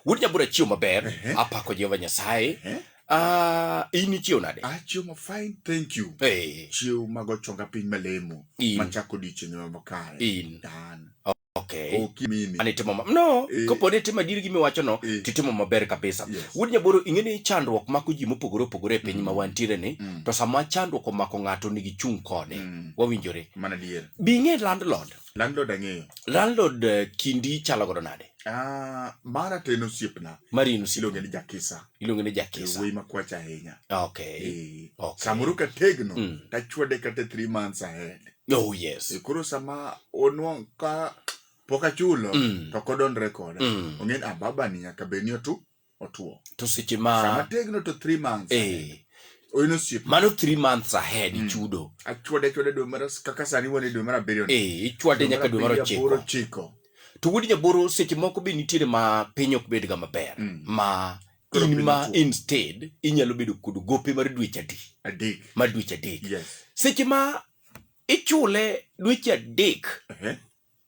Wuod Nyabura chiew maber. Uh -huh. Apako Jehova Nyasaye. Uh -huh. Uh, in ichiew nade? Achiew ah, ma fine, thank you. Hey. Chiew mago chonga piny malemo. In. Machako odiechieng' ma makare. In. Dan. Okay. Okimini. Ani timo ma no, e. kopo ni timo adier gimi wacho no, e. titimo maber kabisa. Yes. Wuod Nyaboro ing'e ni chandruok mako ji mopogore opogore e piny mm. ma wantiere ni, mm. to sama chandruok omako ng'ato nigi chung' kode. Mm. Wawinjore. Mana dier. Bi ing'e landlord. Landlord ang'eyo. Landlord eh, kindi chalo godo nade? Ah, mara to en osiepna. Mari en osiepna. Iluonge ni Jakisa. Iluonge ni Jakisa. Wuoyi makwach ahinya. Okay. E, okay. Samoro ka tegno, mm. tachwade kata three months ahead. Oh yes. E, koro sama onwang' ka pok achulo, mm. to kodonre koda. Mm. Ong'e ni ababa ah, ni nyaka bed ni otu. otuo to seche ma sama tegno to 3 months eh oyino sip mano 3 months ahead mm. chudo achwade chwade dwe mar kaka sani wone dwe mar abiriyo eh ichwade nyaka dwe mar ochiko to wuod jaboro seche moko be nitiere ma piny ok bedga maber mm. ma in ma instead inyalo bedo kod gope mar dweche adek mar dweche adek seche ma ichule dweche adek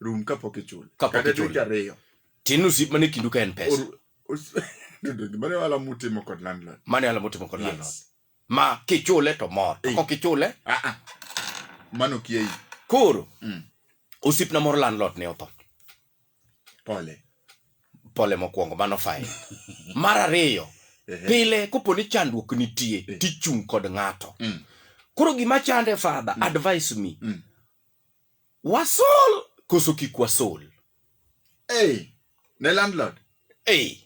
rum kapok ichule Kapok kata ichule. dweche ariyo tin osip mane kindu ka en pesa Or- os- Dodo, gima ne wala mutimo kod landlord mane ala motimo kod landlord Yes. ma kichule to mor to Eh. kok ichule Ah, ah. mano kieyi koro Mm. osipna moro landlord ne otho pole pole mokwongo mano fain mar ariyo Ehe. pile kopo ni chandruok nitie Eh. tichung' kod ng'ato Mm. koro gima chande fadha advice me Mm. Wasol koso kik wasol? Hey, ne landlord. Hey.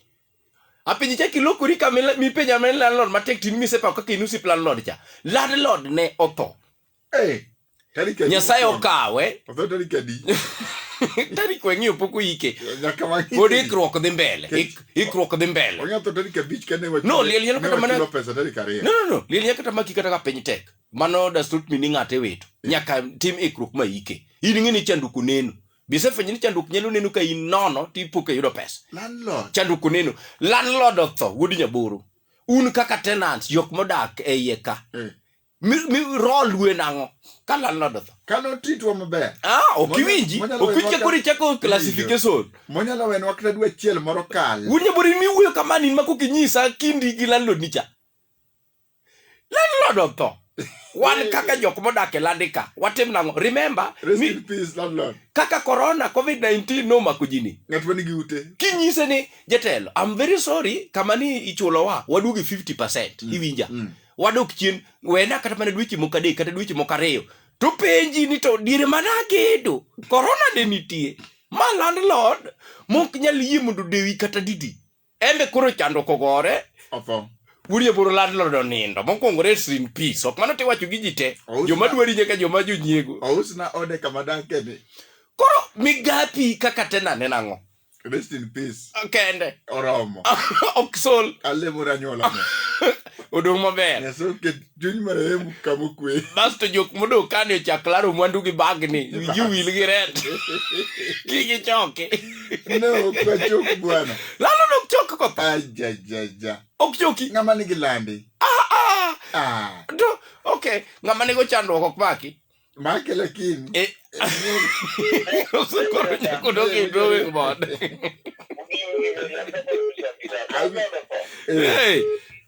Apinyi cha kilokori ka mipenja men landlord matek tin misepa kaka inusi landlord cha. Landlord ne otho. Hey. Tarik Nyasaye okawe. Otho tarik adi? tarik weng'iyo pok oyike pod ikruok dhi mbele ikruok dhi mbele no liel nyalo kata mana no no no liel nyalo kata maki kata ka piny tek mano does not mean ni ng'ato iwito nyaka tim ikruok ma ike in ing'e ni chandruok oneno bisefwenyo ni chandruok nyalo neno ka in nono to ipo ka yudo pesa landlord chandruok oneno landlord otho wuod nyaboro un kaka tenants jok modak e iye ka Eh. mi- mi- rol wen ang'o ka landlord otho kano titwa maber ah ok Monyalo- iwinji monyalo ok winji wachwa- koro ichako classification monyalo wenwa kata dwe achiel moro kal wuod nyaboro in miwuoyo kamani in mako kinyisa kindi gi landlord nicha landlord otho wan kaka jok modak e landika watim nang'o remember Rest mi, in peace, landlord. kaka corona covid-19 nomako jini Ng'at ma nigi ute. kinyise ni jatelo am very sorry kama ni ichulowa waduogi 50 percent iwinja mm. wadok chien wena kata mana dweche moko adek kata dweche moko ariyo to penji ni to diere mana agedo korona de nitie ma landlord mok nyal yie mondo dewi kata didi Embe koro chando kogore. Otho. Wurie buru lad lodo nindo. Mokwongo rest in peace. Ok mano tiwacho gi ji te. Ousna- Joma dwari nyaka joma jonyiego. Ousna ode kama dake ni. Koro migapi kaka tena nena ng'o? Rest in peace. Kende. Oromo. ok sol Alemora nyuola. odong' maber Nyasaye oket Chuny marehemu kama okwe. Basto jok modong' kani ochak laro mwandu gi bagni, wiji wil gi red. Ki gichoki. Ne ok wachok bwana. Lalo nok chok ko. Ajajaja. Ok choki. Ng'ama nigi landi. Ah ah. Ah. Do, okay. Ng'ama nigo chandruok ok maki. Make lakini. Eh. Usikoro nyako dogi e drawing board. Hey.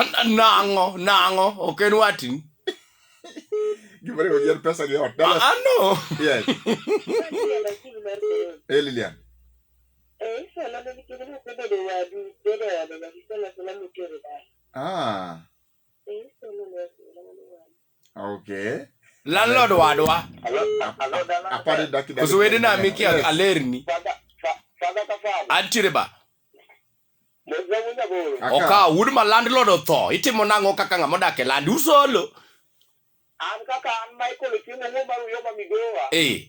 An- an- Nang'o, nang'o, ok en watni. Gimane go yen pesa ni ot. Dallas. Ah, no. Yes. Hey Lilian. Ah. okay landlord wadwa apani daki koso wede na miki Yes. alerni antiere ba Aka. oka wood ma landlord otho itimo nang'o kaka ng'ama odak e land usolo an kaka an michael ochiemo wuo mar uyoba migowa eh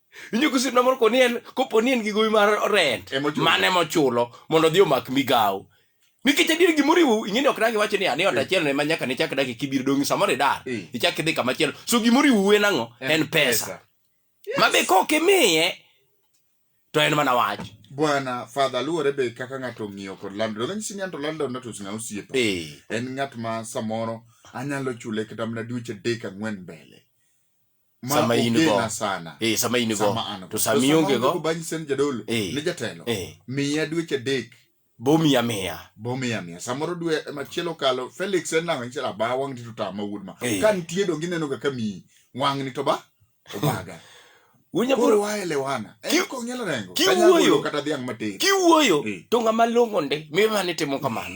Inyuko sip na moro koni en kopo ni en gi gowi mar rent Ema ochulo. mane mochulo mondo odhi omak migawo. Nikech adier gimoro iwu ing'eni ok dagi wacho ni ani ot achiel ne ma nyaka ne chak dagi kibiro dongi samoro idar. Eh. Ichak idhi kama chielo. So gimoro iwu en ang'o? En pesa. Ma be kok imiye to en mana wach. bwana father luwore be kaka ng'ato ong'iyo kod landlord kanyisi ni anto landlord natos ng'a osiepa Eh. en ng'at ma samoro anyalo chule kata mana dweche adek ang'wen mbele sama in go ogena sana eh sama in go sama an go to sama ionge go go banyi sen jadolo Eh. ne jatelo eh miya dweche adek bomi amiya bomiya miya samoro dwe machielo kalo felix en nang'o nyichela ba wang' ti to tama wuod ma Eh. ka nitie donge ineno ga ka miyi wang'ni to ba obaga wunya koro bro waelewana Ki- en kong'ielo rengo ki kanyalo wuoyo. golo kata dhiang' matin kiwuoyo Eh. to ng'ama long'o ndi mimane timo kamano